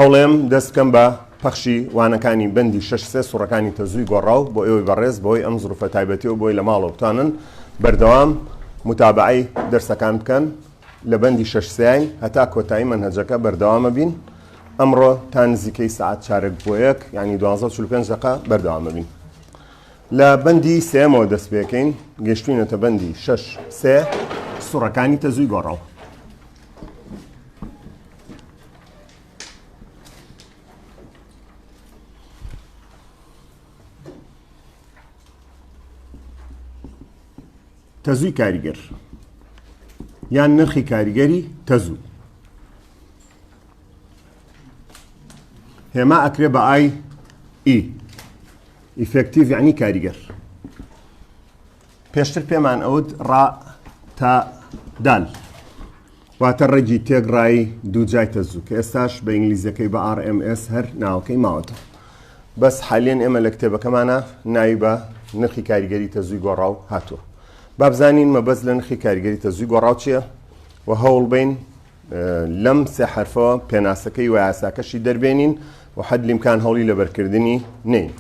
هەوڵێم دەست بکەم بە پەخشی وانەکانی بەندی شش سێ سوڕەکانی تەزووی گۆڕاو بۆ ئێوەی بەڕێز بۆی ئەم زروفە تایبەتیەوە بۆی لە ماڵەوە بتوانن بەردەوام متابعی دەرسەکان بکەن لە بەندی شش سیاین هەتا کۆتایی منهجەکە بەردەوامە بین ئەمڕۆ تا نزیکەی سعات چارێک بۆ یەک ینی 1245 دقا بەردەوامە بین لە بەندی سێمەوە دەست پێکەین گەشتوینەتە بەندی شش سێ سوڕەکانی تەزووی گۆڕاو تەزووی کاریگەر یان نرخی کاریگەری تەزوو هێما ئەکرێ بە ئای ئی ئیفێکتیڤ یعنی کاریگەر پێشتر پێمان ئەوت ڕا تا دال واتە ڕێگی تێک ڕایی دوو جای تەزوو کە ئێستاش بە ئینگلیزیەکەی بە RMS هەر ناوەکەی ماوەتەوە بەس حالێن ئێمە لە کتێبەکەمانە ناوی بە نرخی کاریگەری تەزووی گۆڕاو هاتووە بابزانین مەبەست لە نرخی کاریگەری تەزووی گۆڕاو چییە و هەوڵ بین لەم سێ حرفەوە پێناسەکەی و یاساکەشی دەربێنین و حەد لیمکان هەوڵی لەبەرکردنی نین.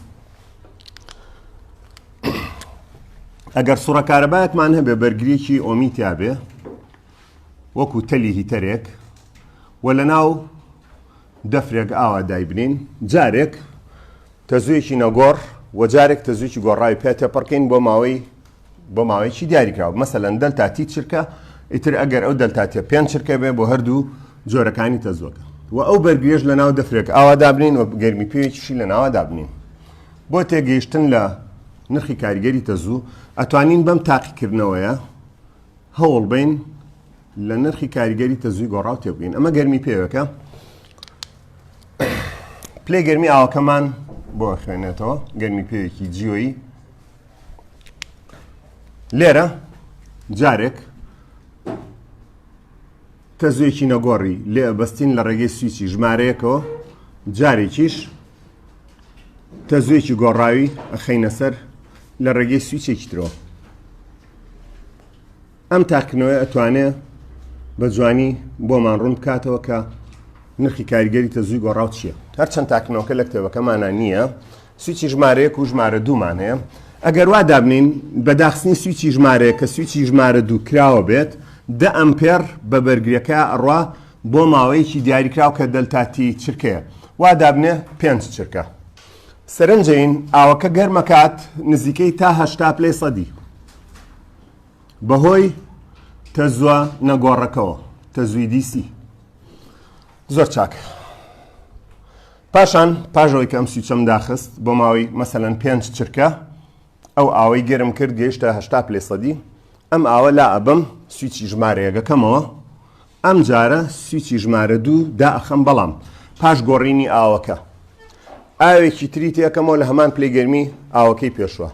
ئەگەر سوڕە کارەبایەکمان هەبێ بەرگریی ئۆمی تیاابێ وەکو تەلی هیتەرێک و لە ناو دەفرێک ئاوا دایبنین جارێک تەزوویەکی نەگۆڕ و جارێک تەزوویی گۆڕاوی پێ تێپەڕکەین بۆ ماوەی بۆ ماوەیەکی دیاریکراوە مەسەلەن دەلتا تی چرکە ئیتر ئەگەر ئەو دەلتا تێ پێنج چرکە بێ بۆ هەردوو جۆرەکانی تەزوەکە و ئەو بەرگێش لە ناو دەفرێک ئاوا دابنین و گەرمی پێوێکیشی لە ناوە دابنین بۆ تێگەیشتن لە نرخی کاریگەری تەزوو، ئەتوانین بەم تاقیکردنەوەیە هەوڵ بەین لە نرخی کاریگەری تەزووی گۆڕاو تێبگەین. ئەمە گەرمی پێوێکە پلەی گەرمی ئاوەکەمان بۆ خوێنێتەوە گەرمی پێوێکی جیۆیی لێرە جارێک تەزوێکی نەگۆڕی لێ ئەبەستین لە ڕێگەی سویچی ژمارەیەکەوە جارێکیش تەزوێکی گۆڕاوی ئەخینە سەر لە ڕێگەی سویچێکی ترۆ ئەم تاکنەوەی ئەتوانێ بە جوانی بۆمان ڕوون بکاتەوە کە نرخی کاریگەری تەزووی گۆڕاو چییە هەرچەند تاکنەوەکە لە کتێبەکەمانە نییە سویچی ژمارە یەک و ژمارە دوومان هەیە ئەگەر وا دابنین بە داخستنی سویچی ژمارەیە کە سویچی ژمارە دوو کراوە بێت دە ئەمپێر بە بەرگریەکە ئەڕوا بۆ ماوەیەکی دیاریکراو کە دەلتاتی چرکەیە وا دابنێ پێنج چرکە سەرنجین ئاوەکە گەرمەکات نزیکەی تا هەشتا پلەی سەدی بەهۆی تەزوە نەگۆڕەکەەوە تەزوی دیسی زۆر چاک پاشان پاش ئەوەی کە ئەم سویچەم داخست بۆ ماوەی مەسەلەن پێنج چرکە ئەو ئاوەی گەرم کرد گەیشتە هەشتا پلەی سەدی ئەم ئاوە لا ئەبەم سویچی ژمارەیەگەکەمەوە ئەم جارە سویچی ژمارە دوو داخەم بەڵام پاش گۆڕینی ئاوەکە ئاوێکی تری تێکەمەوە لە هەمان پلەی گەرمی ئاوەکەی پێشوە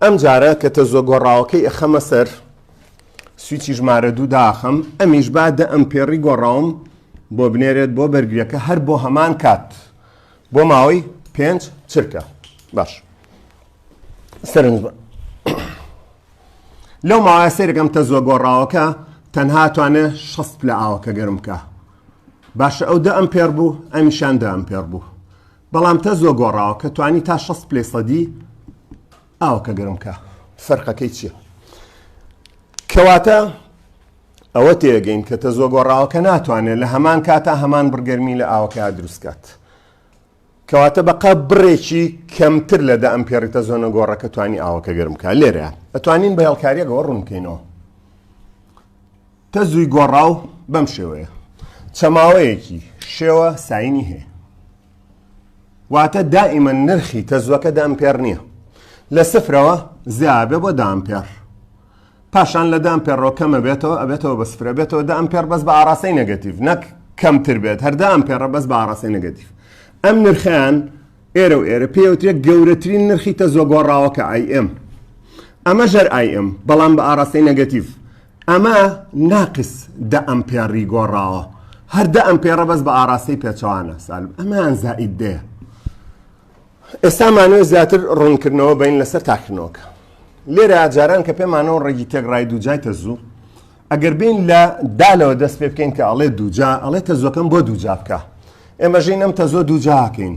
ئەم جارە کە تەزۆ گۆڕاوەکەی ئەخەمە سەر سویچی ژمارە دوو داخەم ئەمیش با دە ئەمپێڕی گۆڕاوم بۆ بنێرێت بۆ بەرگریەکە هەر بۆ هەمان کات بۆ ماوەی پێنج چرکە باش سەرنج بە لەو ماوەیە سێرەکەم تە زۆ گۆڕاوەکە تەنها توانێ شەست پلە ئاوەکە گەرم بکە باشە ئەو دە ئەم پێر بوو ئەمیشان دە ئەم پێر بوو بەڵام تە زۆ گۆڕاوە کە توانی تا شەست پلەی سەدی ئاوەکە گەرم کا فەرقەکەی چیە کەواتە ئەوە تێگەین کە تەزۆ گۆڕاوەکە ناتوانێت لە هەمان کاتا هەمان بڕگەرمی لە ئاوەکە دروستکات کەواتە بەقا بڕێکی کەمتر لە دە ئەم پێڕیتە زۆنە گۆڕەکە توانی ئاوەکە گەرمکە لێرە ئەتوانین بە هێڵکاریەکەەوە ڕوونکەینەوە تەزووی گۆڕاو بەم شێوەیە چەماوەیەکی شێوە ساینی هەیە واتە دائیمە نرخی تەزوەکە دامپێر نییە لە سفرەوە زیابێ بۆ دامپێر پاشان لە دامپێڕۆ کەمە بێتەوە ئەبێتەوە بە سفرە بێتەوە دام پێر بەس بە ئاراسی نەگەتیف نەک کەمتر بێت هەردام پێڕە بەس بە ئاراسی نەگەتیف ئەم نرخیان ئێرە و ئێرە پێوترێت گەورەترین نرخی تەزۆ گۆڕاوەکە ئایم ئەمە ژەر ئایم بەڵام بە ئاراسی نەگەتیف ئەمە ناقس دە ئەمپێڕی گۆڕاوە هەر دە ئەمپێڕە بەس بە ئاراستەی پێچەوانە سالب ئەمەیان زائید دەیە ئێستا مانەوە زیاتر ڕوونکردنەوە بین لەسەر تاکردنەوەکە لێرە جاران کە پێمانەوە ڕێگی تێگڕای دووجای تەزوو ئەگەر بین لە دالەوە دەست پێ بکەین کە ئەڵێ دووجا ئەڵێ تەزوەکەم بۆ دووجا بکە ئێمە ژین ئەم تەزۆ دووجاکەین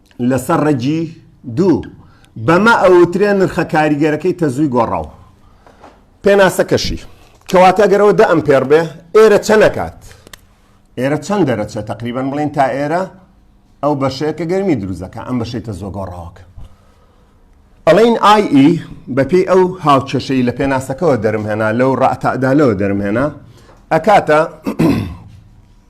لەسەر ڕەگی دوو بەمە ئەوترێن نرخە کاریگەرەکەی تەزووی گۆڕاو پێناسەکەشی کەواتە گەرەوە دە ئەم پێڕ بێ ئێرە چەنەکات ئێرە چەند دەرەچە تقریبان بڵین تا ئێرە ئەو بەشەیە کە گەرمی دروزەکە ئەم بەشەی تە زۆگۆ ڕاوەکە ئەڵین ئای ئی e بەپی ئەو هاوچەشەی لە پێناسەکەەوە دەرمهێنا لەو ڕاتادالەوە دەرمهێنا ئەکاتە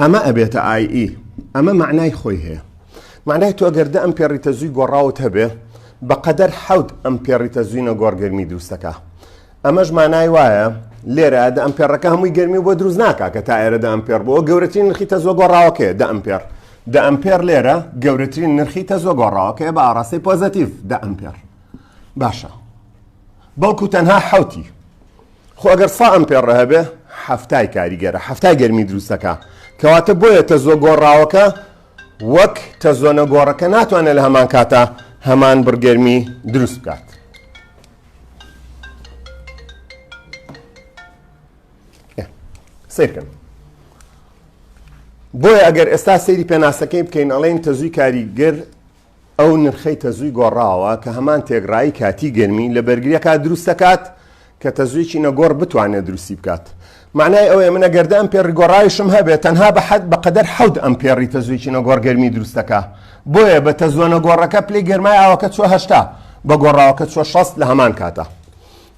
ئەمە ئەبێتە ئای ئی. ئەمە مەعنای خۆی هەیە. مەعنای تۆ گەر دە ئەمپێڕی تەزووی گۆڕاوت هەبێ، بە قەدەر حەوت ئەمپێڕی تەزووی نەگۆڕ گەرمی دروست دەکا. ئەمەش مانای وایە لێرە دە ئەمپێڕەکە هەمووی گەرمی بۆ دروست ناکا کە تا ئێرە دە ئەمپێڕ بووە. گەورەترین نرخی تەزووە گۆڕاوەکەیە دە ئەمپێڕ. دە ئەمپێڕ لێرە گەورەترین نرخی تەزووە گۆڕاوەکەیە بە ئاڕاستەی پۆزەتیڤ دە ئەمپێڕ. باشە. بەڵکوو تەنها حەوتی. خۆ ئەگەر سا ئەمپێڕ هەبێ حەفتای کاریگەرە حەفتای گەرمی دروستەکە کەواتە بۆیە تەزۆ گۆڕاوەکە وەک تەزۆنە گۆڕەکە ناتوانێت لە هەمان کاتە هەمان بڕگەرمی دروست بکات سیرکن بۆیە ئەگەر ئێستا سەیری پێناسەکەی بکەین ئەڵێن تەزوی کاریگەر ئەو نرخەی تەزووی گۆڕاوە کە هەمان تێکڕایی کاتی گەرمی لە بەرگریەکە دروست دەکات کە تەزوویەکی نەگۆڕ بتوانێت دروستی بکات مەعنای ئەوەیە من ئەگەر دە ئەمپێڕی گۆڕاویشم هەبێت تەنها بە حەد بە قەدەر حەوت ئەمپێڕی تەزوویەکی نەگۆڕ گەرمی دروست دەکا بۆیە بە تەزووە نەگۆڕەکە پلەی گەرمای ئاوەکە چوە هەشتا بە گۆڕاوەکە چوە شەست لە هەمان کاتە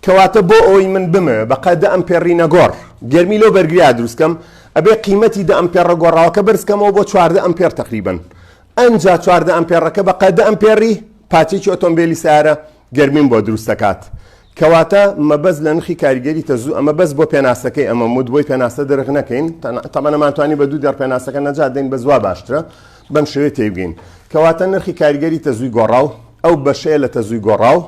کەواتە بۆ ئەوەی من بمەوێت بە قەد دە ئەمپێڕی نەگۆڕ گەرمی لەو بەرگریا دروستکەم ئەبێ قیمەتی دە ئەمپێڕە گۆڕاوەکە بەرزکەمەوە بۆ چواردە ئەمپێڕ تەقریبەن ئەنجا چواردە ئەمپێڕەکە بە قە دە ئەمپێڕی پاچێکی ئۆتۆمبێلی سارە گەرمیم بۆ دروست دەکات. کەواتە مەبەست لە نرخی کاریگەری تەزوو ئەمە بەس بۆ پێناسەکەی ئەمە مود بۆی پێناسە دەرخ نەکەین تەمەەمانتوانی بە دوو دەر پێناسەکە نەجات دەین بە زوا باشترە بەم شوێ تێبگەین کەواتە نرخی کاریگەری تەزووی گۆڕاو ئەو بەشەیە لە تەزووی گۆڕاو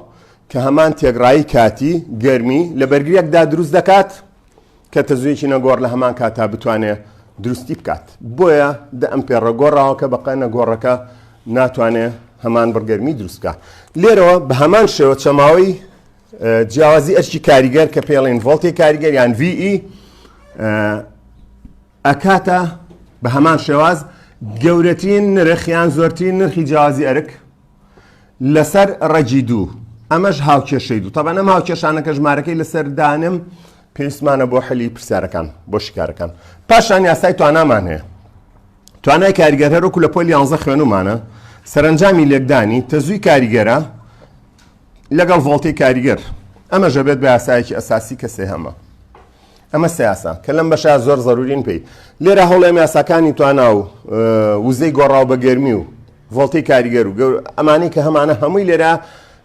کە هەمان تێگڕایی کاتی گەرمی لە بەرگریەکدا دروست دەکات کە تەزوویەکی نەگۆڕ لە هەمان کاتا بتوانێت دروستی بکات بۆیە دە ئەمپێڕە گۆڕاوەکە بەقە نەگۆڕەکە ناتوانێ هەمان بڕگەرمی دروستکە لێرەوە بە هەمان شێوە چەماوەی جیاوازی ئەرکی کاریگەر کە پێڵێن ڤۆلتی کاریگەر یان VE ئەکاتە بە هەمان شێواز گەورەترین نرخیان زۆرترین نرخی جیاوازی ئەرک لەسەر ڕەگی دوو ئەمەش هاوکێشەی دوو تەبان ئەم هاوکێشانەکە ژمارەکەی لەسەر دانم پێویستمانە بۆ حەلی پرسیارەکان بۆ شکارەکان پاشان یاسای توانامان هەیە توانای کاریگەر هەرۆکو لە پۆل یانزە خوێنمانە سەرنجامی لێکدانی تەزووی کاریگەرە لەگەڵ ڤۆڵتی کاریگەر ئەمە ژەبێت بە یاسایەکی ئەساسی کەسێ هەمە ئەمە سیاسە کە لەم بەشە زۆر زەرورین پێی لێرە هەوڵێم یاساکانی توانا و وزەی گۆڕاو بە گەرمی و ڤۆڵتەی کاریگەر و گەور ئەمانەی کە هەمانە هەمووی لێرە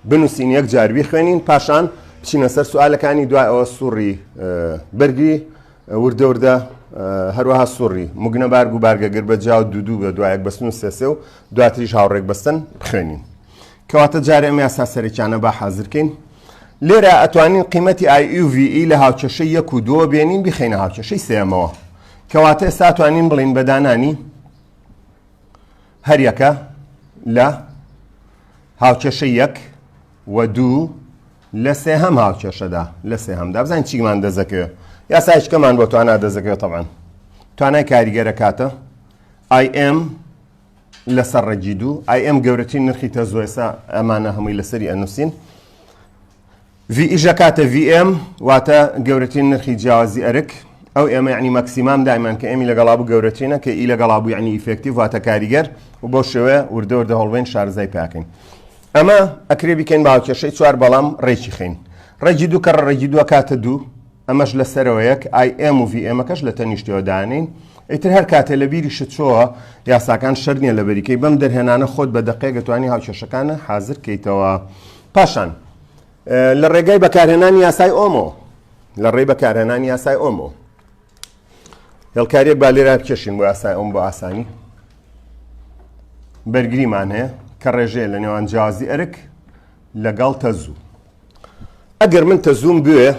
بنووسین یەک جار بیخوێنین پاشان بچینە سەر سوالەکانی دوای ئەوە سوڕی بەرگی وردە وردە هەروەها سوڕی مگنە بارگ و بارگەگر بە جااو دوودوو بە دوایەک بەستن و سێسێ و دواتریش هاوڕێک بەستن بخوێنین کەواتە جارێ ئەم یاسا سەرەکیانە با حازرکەین لێرە ئەتوانین قیمەتی IUV e لە هاوچەشە یەک و دووە بێنین بخینە هاوچەشەی سێمەوە کەواتە ئێستا توانین بڵین بەدانانی هەریەکە لە هاوکێشە یەک و دوو لە سێ هەم هاوکێشەدا لە سێ هەمدا بزانین چیمان دەزەکەوێت یاسایشکەمان بۆ توانا دەزەکەوێت تەبان توانای کاریگەرە کاتە ئایم لەسەر ڕێگی دوو ئایم گەورەترین نرخی تەزۆێسا ئەمانە هەمووی لەسەری ئەنووسین ڤی ئیژە کاتە ڤی ئێم واتە گەورەترین نرخی جیاوازی ئەرک، ئەو ئێمە یعنی مەکسیمام دایمان کە ئێمی لەگەڵا بوو گەورەترینە کە ئی لەگەڵا بوو یعنی ئیفێکتیڤ واتە کاریگەر و بەو شێوەیە وردە وردە هەوڵبەین شارەزای پیاکەین ئەمە ئەکرێ بیکەین بە هاوکێشەی چوار بەڵام ڕێکی خەین ڕێگی دوو کەڕە ڕێگی دووە کاتە دوو ئەمەش لە سەرەوە یەک ئای ئێم و ڤی ئێمەکەش لە تەنیشتەوە دانین ئیتر هەر کاتێ لە بیری شتچۆوە یاساکان شەر نییە لە بەریکەی بەم دەرهێنانە خۆت بە دەقێگەتوانی هاوکێشەکانە حازر کەیتەوە پاشان لە ڕێگای بەکارهێنانی یاسای ئۆمۆ لە ڕێی بەکارهێنانی یاسای ئۆمۆ هێڵکاریەک با لێرا بکێشین بۆ یاسای ئۆم بۆ ئاسانی بەرگریمان هەیە کە ڕێژەیە لە نێوان جیازی ئەرک لەگەڵ تەزوو ئەگەر من تەزووم بوێ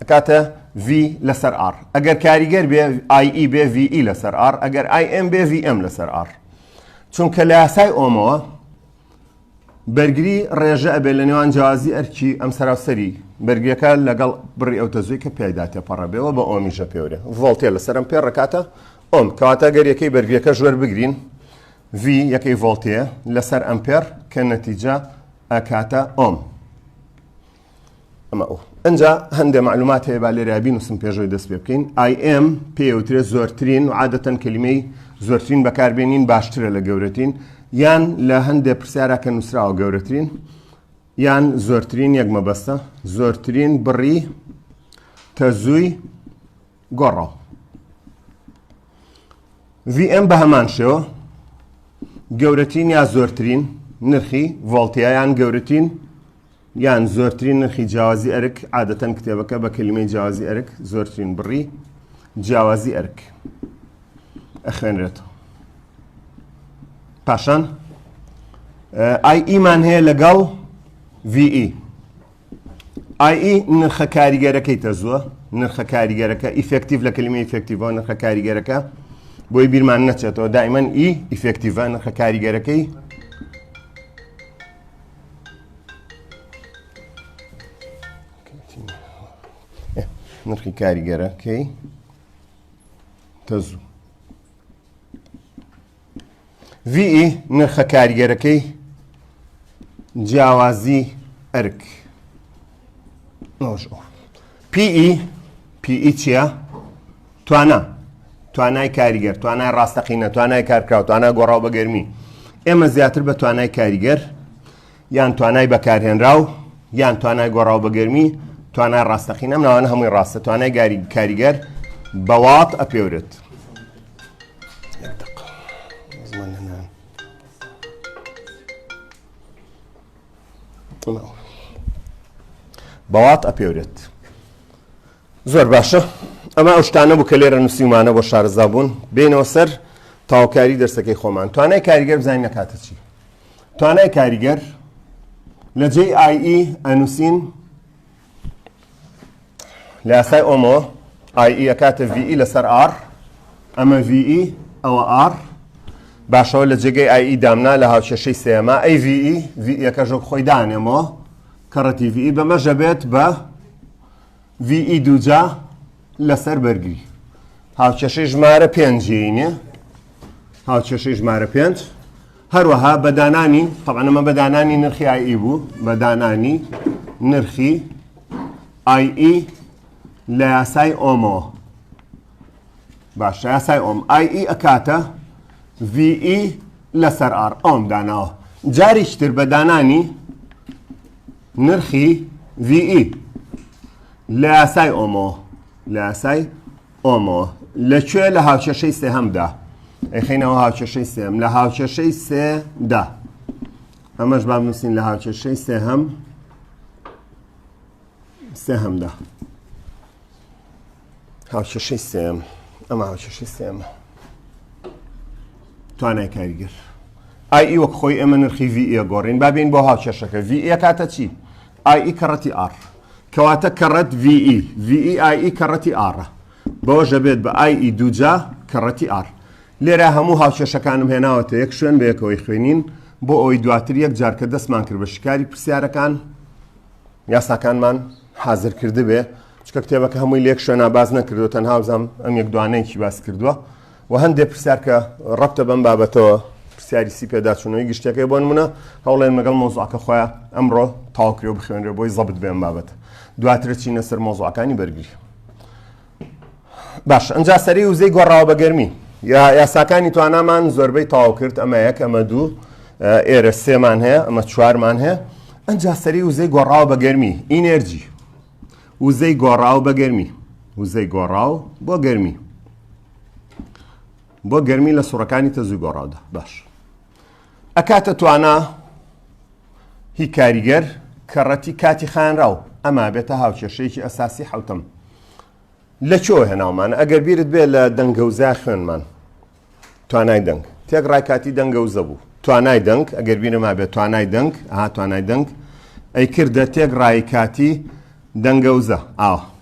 ئەکاتە V لەسەر R ئەگەر کاریگەر بێ IE بێ VE لەسەر R ئەگەر IM بێ VM لەسەر R چونکە لە یاسای ئۆمەوە بەرگری ڕێژە ئەبێت لە نێوان جیازی ئەرکی ئەم سەراسەری بەرگەکە لەگەڵ بڕی ئەو تەزوی کە پیایدا تێپەڕەبێەوە بە ئۆمیژە پێورێ ڤۆڵتێ لە سەرم پێ ڕکاتە ئۆم کەواتە گەریەکەی بەرگەکە ژوەر بگرین V یەکەی ڤۆڵتەیە لەسەر ئەمپێر کە نەتیجە ئەکاتە ئۆم ئەمە ئەو ئەجا هەندێک معلومات هەیە با لێرا بینوسم پێشەوەی دەست پێ بکەین ئایم پێوترێت زۆرترین و عادەتەن کللیمەی زۆرترین بەکاربیێنین باشترە لە گەورەتین یان لە هەندێک پرسیارە کە نووسراوە گەورەترین یان زۆرترین یەک مەبەستە زۆرترین بڕی تەزووی گۆڕە VM بە هەمان شێوە گەورەتین یا زۆرترین نرخی ڤۆڵتیایان گەورەتین یان زۆرترین نرخی جیاوازی ئەرک عادەتەن کتێبەکە بە کللیمەی جیاوازی ئەرک زۆرترین بڕی جیاوازی ئەرک ئەخوێنرێتەوە پاشان ئای ئیمان هەیە لەگەڵ VE ئای نرخە کاریگەرەکەی تەزووە نرخە کاریگەرەکە ئیفکتیف لە کللیمە ئیفکتیڤ نرخە کاریگەرەکە بۆی بیرمان نەچێتەوە دایمەن ئی ئیفکتیڤە نرخە کاریگەرەکەی نرخی کاریگەرە کەی تەزوو ڤی نرخە کاریگەرەکەی جیاوازی ئەرک نۆژ ئۆف پیئی پیئی چییە؟ توانا توانای کاریگەر توانای ڕاستەقینە توانای کارکراو توانای گۆڕاو بە گەرمی ئێمە زیاتر بە توانای کاریگەر یان توانای بەکارهێنراو یان توانای گۆڕاو بە گەرمی توانای ڕاستەقینە ناوانە هەمووی ڕاستە توانای گاری کاریگەر بەوات ئەپێورێت بەڵات ئەپێورێت زۆر باشە ئەمە ئەو شتانە بوو کە لێرە نووسیمانە بۆ شارەزا بوون بینەوە سەر تاوکاری دەرسەکەی خۆمان توانای کاریگەر بزانین نەکاتە چی توانای کاریگەر لە جێ ئایئی e ئەنووسین لە یاسای ئۆمۆ ئای ئەکاتە ڤی لەسەر ئار ئەمە ڤی ئەوە ئار باشەوە لە جێگەی ئای دامنا لە هاوچێشەی سێمە ئەی ڤی ڤەکەژۆک خۆی دانێمەوە کەڕەتی ڤی بەمەژە بێت بە ڤی دووجا لەسەر بەرگری هاوچێشەی ژمارە پێنجینێ هاوچێشەی ژمارە پێنج هەروەها بە دانانی تەبعەن ئەمە بە دانانی نرخی ئای ئی بوو بە دانانی نرخی ئای ئی لە یاسای ئۆمەوە باشە یاسای ئۆم ئای ئی ئەکاتە وی ئی لەسەر ئار ئۆم داناوە جاریشتر بە دانانی نرخی وی ئی لە یاسای ئۆمەوە لە یاسای ئۆمۆ لە کوێ لە هاوکێشەی سێهەمدا ئەیخینەوە هاوکێشەی سێم لە هاوکێشەی سێدا ئەمەش با بنووسین لە هاوکێشەی سێهەم سێهەمدا هاوکێشەی سێم ئەمە هاوکێشەی سێمە توانای کاریگەر ئای ئی وەک خۆی ئێمە نرخی ڤ ئە گۆڕین بابین بۆ هاوکێشەکە ڤ ئە کاتە چی؟ ئای ئی کەڕەتی ئاڕ. کەواتە کەڕەت ڤی ئی، ڤی ئی ئای ئی کەڕەتی ئاڕە. بەوەش ئەبێت بە ئای ئی دووجا کەڕەتی ئاڕ. لێرە هەموو هاوکێشەکانم هێناوەتە یەک شوێن بە یەکەوەی خوێنین، بۆ ئەوەی دواتر یەک جار کە دەستمان کرد بە شیکاری پرسیارەکان، یاساکانمان حازر کردبێ، چونکە کتێبەکە هەمووی لە یەک شوێنا باس نەکردووە، تەنها وزام ئەم یەک دوانەیەکی باس کردووە. وە هەندێ پرسیار کە ڕەبتە بەم بابەتەوە پرسیاری سی پێداچوونەوەی گشتەکەی بۆ نمونە هەوڵێن مەگەڵ مۆزعکە خۆیان ئەمڕۆ تاوکرێ و بخوێنرێ بۆی زەبت بێن بابەت دواترە چینە سەر مۆزعەکانی بەرگری باش ئەجا سەری وزەی گۆڕاوە بە گەرمی یا یاساکانی توانامان زۆربەی تاو کرد ئەمە یەک ئەمە دوو ئێرە سێمان هەیە ئەمە چوارمان هەیە ئەجا سەری وزەی گۆڕاوە بە گەرمی ئینەرجی وزەی گۆڕاو بە گەرمی وزەی گۆڕاو بۆ گەرمی بۆ گەرمی لە سوڕەکانی تەزوی گۆڕاودا باش ئەکاتە توانا هی کاریگەر کەڕەتی کاتی خانراو ئەما بێتە هاوکێشەیەکی ئەساسی حوتم لە چۆ هێناومان ئەگەر بیرت بێ لە دەنگەوزا خوێنمان توانای دەنگ تێک ڕای کاتی دەنگەوزە بوو توانای دەنگ ئەگەر بینەما بێت توانای دەنگ ها توانای دەنگ ئەی کردە تێک ڕای کاتی دەنگەوزە ئاوە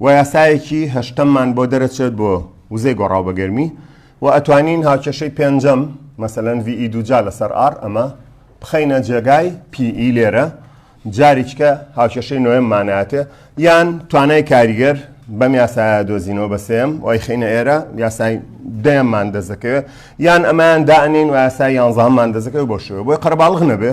و یاسایەکی هەشتەممان بۆ دەرەچێت بۆ وزەی گۆڕاو بە گەرمی و ئەتوانین هاوکێشەی پێنجەم مەسەلەن VE دووجا لەسەر R ئەمە بخەینە جێگای PE لێرە جاریکە هاوکێشەی نۆیەم مانایەتێ یان توانای کاریگەر بەم یاسایە دۆزینەوە بە سێم وای خینە ئێرە یاسای دەیەممان دەزەکەوێت یان ئەمایان دانین و یاسای یانزانمان دەزەکەوێت بۆ شوێ بۆی قەرباڵغ نەبێ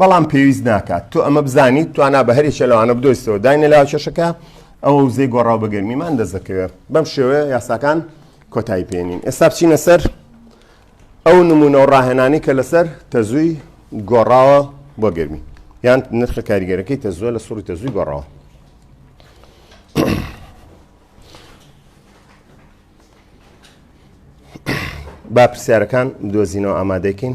بەڵام پێویست ناکات تۆ ئەمە بزانیت توانا بە هەرێکە لەوانە بدۆستەوە داینە لاو کێشەکە ئەوە وزەی گۆڕاو بە گەرمیمان دەست دەکەوێت بەم شێوەیە یاساکان کۆتایی پێێنین ئێستا بچینە سەر ئەو نمونە و ڕاهێنانی کە لەسەر تەزووی گۆڕاوە بۆ گەرمی یان نرخە کاریگەرەکەی تەزوە لە سوڕی تەزووی گۆڕاوە با پرسیارەکان دۆزینەوە ئامادەکەین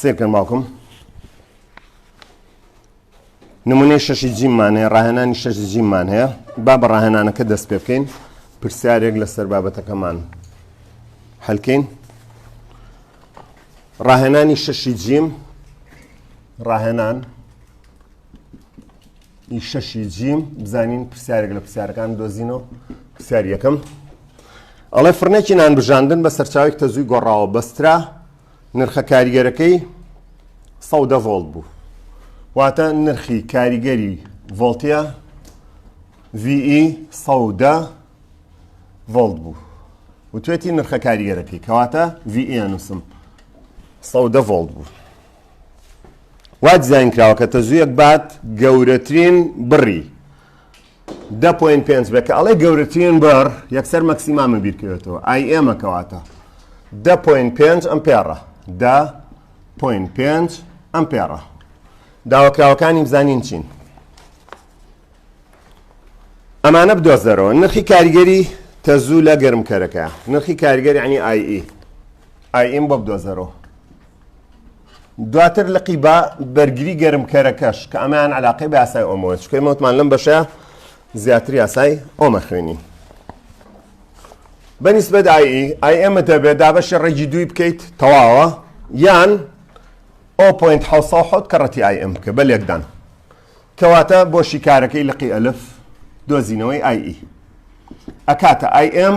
سێکەن ماڵکم نمونەی شەشی جیممان هەیە ڕاهێنانی شەشی جیممان هەیە با بە ڕاهێنانەکە دەست پێ بکەین پرسیارێک لەسەر بابەتەکەمان هەلکەین ڕاهێنانی شەشی جیم ڕاهێنان ی شەشی جیم بزانین پرسیارێک لە پرسیارەکان دۆزینەوە پرسیار یەکەم ئەڵێ فرنێکی نان بژاندن بە سەرچاوێک تەزووی گۆڕاوە بەسترا نرخە کاریگەرەکەی سەودە ڤۆڵت بوو واتە نرخی کاریگەری ڤۆڵتە VE سەودە ڤۆڵت بوو وتێتی نرخە کاریگەرەکەی کەواتە VE نووسم سەودە ڤۆڵت بوو وا دیزاین کراوە کە تەزوویەک بات گەورەترین بڕی دە پوین پێنج بێ کە ئەڵێ گەورەترین بڕ یەکسەر مەکسیمامە بیرکەوێتەوە ئای ئێمە کەواتە دە پوین پێنج ئەم پێڕە دە پوین پێنج ئەم پێڕە داواکراوەکانی بزانین چین ئەمانە بدۆزەرەوە نرخی کاریگەری تەزوو لە گەرمکەرەکە نرخی کاریگەری عنی ئای ئیم بۆ بدۆزەرەوە دواتر لقی بە بەرگری گەرمکەرەکەش کە ئەمان علاقی بە یاسای ئۆمۆە چکەی مەوتمان لەم بەشە زیاتر یاسای ئۆمە خوێنی بەنیسبەت ئای ئای ئێمە دەبێت دابەشی ڕێگی دووی بکەیت تەواوە یان ئۆپۆینت حوت کە ڕەتی ئای ئەم بکە بە لێکدان کەواتە بۆ شیکارەکەی لقی ئەلف دۆزینەوەی ئای ئی ئەکاتە ئای ئەم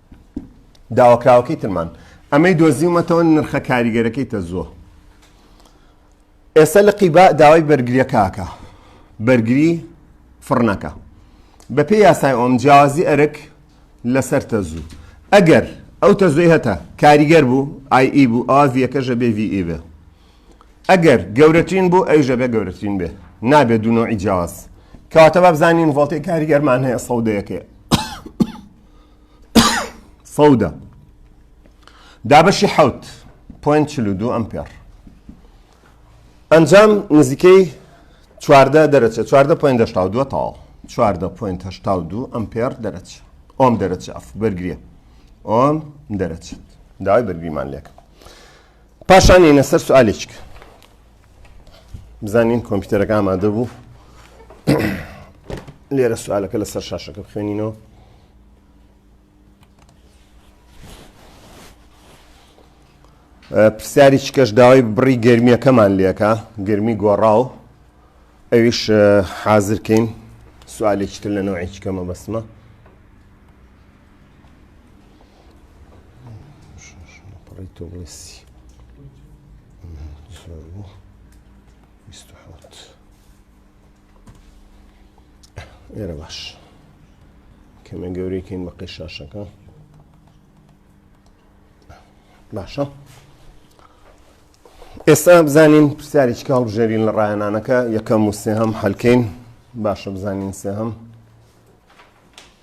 داواکراوەکەی ترمان ئەمەی دۆزیومەتەوە نرخە کاریگەرەکەی تەزووە ئێستا لە قیبا داوای بەرگریەکەکە بەرگری فڕنەکە بەپێ یاسای ئۆم جیازی ئەرک لەسەر تەزوو ئەگەر ئەو تەزوی هەتا کاریگەر بوو ئای ئی بوو ئاڤیەکەژە بێ وی بێ ئەگەر گەورەترین بوو ئەوژە بێ گەورەترین بێ نابێ دوونەوەی جیاز کەواتە بابزانین ڤڵتی کاریگەرمان هەیە سەودەیەەکەی سەودە دابەشی حوت پوین چلو دوو ئەمپێر ئەنجام نزیکەی چواردە دەرەچە چواردە پوین دەشتا و دووە تاڵ چواردە پوین هشتا و دوو ئەمپێر دەرەچ ئۆم دەرەچ ئەف بەرگریە ئۆم دەرەچێت داوای بەرگریمان لێکە پاشان یەنە سەر سوالێک بزانین کۆمپیوتەرەکە ئامادە بوو لێرە سوالەکە لەسەر شاشەکە بخوێنینەوە پرسیاری چکەش داوای بڕی گرمیەکەمان لێکە گرمی گۆڕاو ئەویش حازرکەین سوالێکتر لە نەوەی چکەمە بەسمە ئێرە باش کەمە گەورەیکەین بە قەشاشەکە باشە ئێستا بزانین پرسیاری چکە هەڵبژێرین لە ڕایەنانەکە یەکەم و سێهەم هەلکەین باشە بزانین سێهەم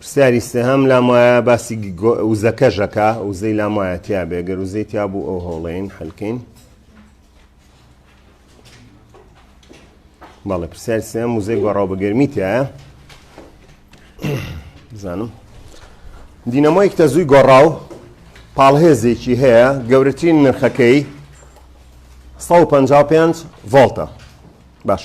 پرسیاری سێهەم لام وایە باسی وزەکەش ئەکا وزەی لام وایە تیا بێ گەر وزەی تیا بوو ئەو هەوڵێن حەلکەین بەڵێ پرسیار سێم وزەی گۆڕاو بە گەرمی تایە بزانم دینەمۆیەک تەزووی گۆڕاو پاڵهێزێکی هەیە گەورەترین نرخەکەی 155 ڤۆڵتە باش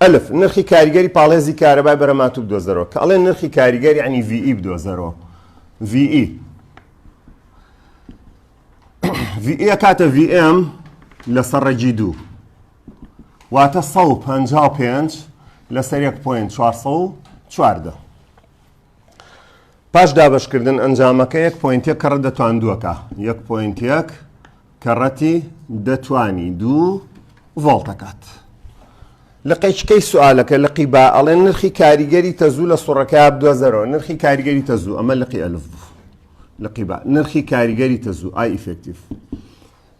ئەلف نرخی کاریگەری پاڵێزی کارەبای بەرەماتوب دۆزەرەوە کە ئەڵێ نرخی کاریگەری عنی VE بدۆزەرەوە VE VE کاتە VM لەسەر ڕێگی دوو واتە 155 لەسەر 1.4 4 پاش دابەشکردن ئەنجامەکە یەک پۆینت یەک کەڕەت دەتوان دووەکە یەک پۆینت یەک کەڕەتی دەتوانی دوو ڤۆڵتەکات لە قەیچکەی سوالەکە لقی با ئەڵێ نرخی کاریگەری تەزوو لە سوڕەکە بدۆزەرەوە نرخی کاریگەری تەزوو ئەمە لقی ئەلف بوو لقی با نرخی کاریگەری تەزوو ئای ئیفێکتیف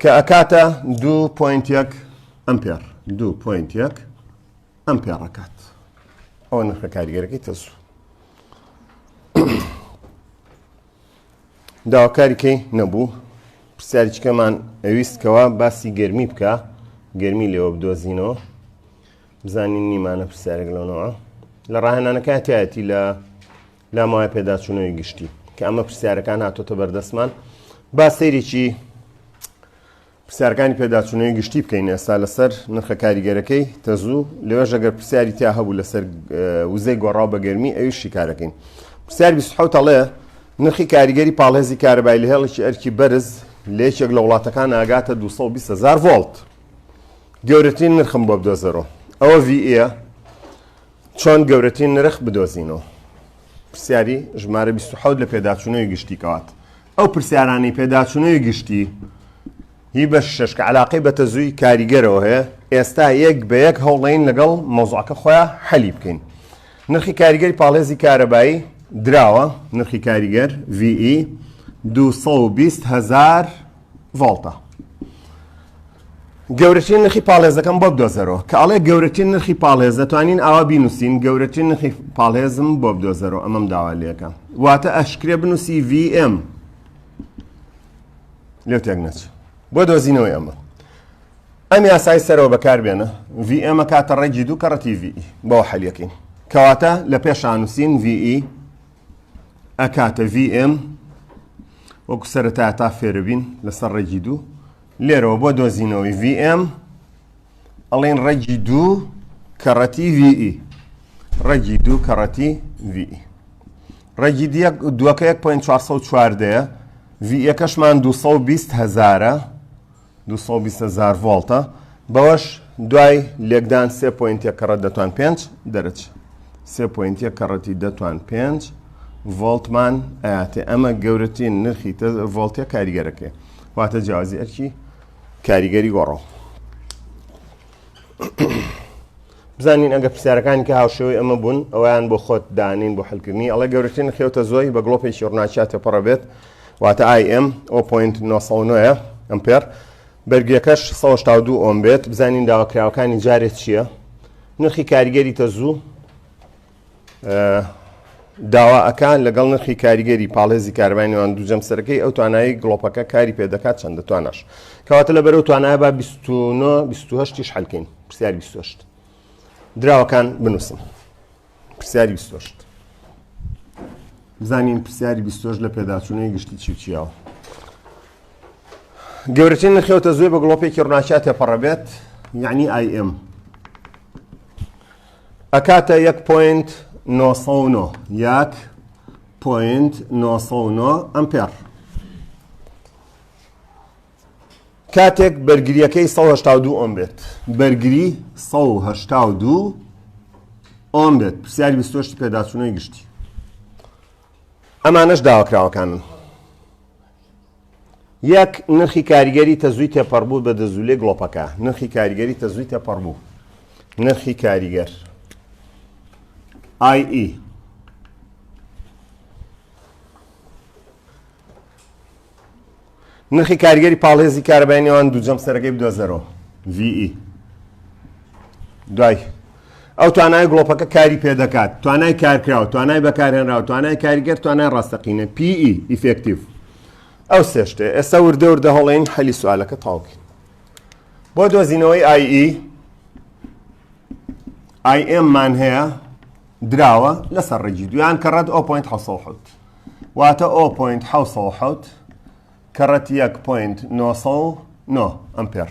کە ئەکاتە دوو پوینت یەک ئەمپێر دوو پوینت یەک ئەمپێر ئەکات ئەوە نرخە کاریگەرەکەی تەسوو داواکاریکەی نەبوو پرسیاریچکەمان ئەویستکەوە باسی گەرمی بکە گەرمی لێوە بدۆزینەوە بزانین نیمانە پرسیارێک لەنەوە لە ڕاهێنانەکەتیایەتی لە ناماوەی پێداچوونەوەی گشتی کە ئەمە پرسیارەکان هاتۆتە بەردەستمان با سەیرێکی پرسیارکانی پێداچوونەوەی گشتی بکەین ئێستا لەسەر نرخە کاریگەرەکەی تەزوو لەوێ ژەگەر پرسیاری تیا هەبوو لەسەر وزەی گۆڕاو بە گەرمی ئەوی شیکارەکەین پرسیار 26 تەڵێ نرخی کاریگەری پاڵێزی کارەبای لە هێڵێکی ئەرکی بەرز لە یەکێک لە وڵاتەکان ئاگاتە 220هزار ڤۆلت گەورەترین نرخم بۆ بدۆزەرەوە ئەوە VA چۆن گەورەترین نرخ بدۆزینەوە؟ پرسیاری ژمارە 27 لە پێداچوونەوەی گشتی کەوات ئەو پرسیارانی پێداچوونەوەی گشتی هی بە شش کە علاقەی بە تەزووی کاریگەرەوە هەیە ئێستا یەک بە یەک هەوڵین لەگەڵ مۆزعەکە خۆیان حەلی بکەین نرخی کاریگەری پاڵێزی کارەبایی دراوە نرخی کاریگەر VE 220 هزار ڤۆڵتە گەورەترین نرخی پاڵێزەکەم بۆ بدۆزەرەوە کە ئەڵێ گەورەترین نرخی پاڵێز دەتوانین ئاوا بینوسین گەورەترین نرخی پاڵێزم بۆ بدۆزەرەوە ئەمەم داوا لەکە واتە ئەشکرێ بنووسی VM لێ تێک نەچ بۆ دۆزینەوەی ئەمە ئەم یاسای سەرەوە بەکاربێنە VM کاتە ڕێگی دوو کەڕەتی VE بۆ حەلیەکەین کەواتە لە پێشانووسین VE ئەکاتە VM وەکو سەرەتا تا فێربین لەسەر ڕێگی دوو لێرەوە بۆ دۆزینەوەی VM ئەڵین ڕێگی دوو کەڕەتی VE ڕێگی دوو کەڕەتی VE ڕێگی دووەکە 1.4 دەیە VE کەشمان 220 هزارە دوو سەد و بیست هەزار ڤۆڵتە بەوەش دوای لێکدان سێ پۆینت یەک کەڕەت دەتوان پێنج دەرەج سێ پۆینت یەک کەڕەتی دەتوان پێنج ڤۆڵتمان ئااتێ ئەمە گەورەترین نرخی تە ڤۆڵتە کاریگەرەکەی واتە جیازی ئەرکی کاریگەری گۆڕەوە بزانین ئەگەر پرسیارەکانی کە هاوشێوەی ئەمە بوون ئەویان بۆ خۆت دانین بۆ حلکردنی ئەڵێ گەورەترین خێوتە زۆی بە گڵۆپێکی ڕناچیا تێپەڕە بێت واتە ئایم ئەو پوینت 909 ئەمپێر بەرگەکەش 1970 ئۆم بێت بزانین داواکراوەکانی جارێت چییە نرخی کاریگەری تەزوو داوا ئەکات لەگەڵ نرخی کاریگەری پاڵێزی کاربای نێوان دوو جەمسەرەکەی ئەو توانایی گڵۆپەکە کاری پێدەکات چەندە تواناش کەواتە لە بەرەو توانای با 29 حلکەین پرسیاری 28 دراوەکان بنووسم پرسیاری 28 بزانین پرسیاری 28 لە پێداچوونەی گشتی چیچیەوە گەورەترین نرخەوتە زۆی بە گڵۆپێکی ڕناچات تێپەڕەبێت یعنی ئایم ئەکاتە یەک پۆینت نۆ سەد و نۆ یەک پۆینت نۆ سەد و نۆ ئەمپێڕ کاتێک بەرگریەکەی 1970 ئۆم بێت بەرگری 1970 ئۆم بێت پرسیاری بیستۆشتی پێداچوونەوەی گشتی ئەمانەش داواکراوەکانن یەک، نرخی کاریگەری تەزووی تێپەڕبوو بە دەزوولەی گڵۆپەکە. نرخی کاریگەری تەزووی تێپەڕبوو. نرخی کاریگەر. IE. نرخی کاریگەری پاڵێزی کارەبای نێوان دوو جەمسەرەکەی بدۆزەرەوە. VE. دوای. ئەو توانای گڵۆپەکە کاری پێدەکات توانای کارکراوە توانای بەکارهێنراوە توانای کاریگەر توانای ڕاستەقینە پی ئیفکتیو ئەو سێشتێ ئێستا وردە وردە هەڵێن حەلی سوالەکە تاوکە بۆ دۆزینەوەی ئایئی ئایئممان هەیە دراوە لەسەر ڕێگی دویان کە ڕەت ئەو پوینت حوت واتە ئەو پوینت حوت کە ڕەت یەک پوینت 9 ئەمپێر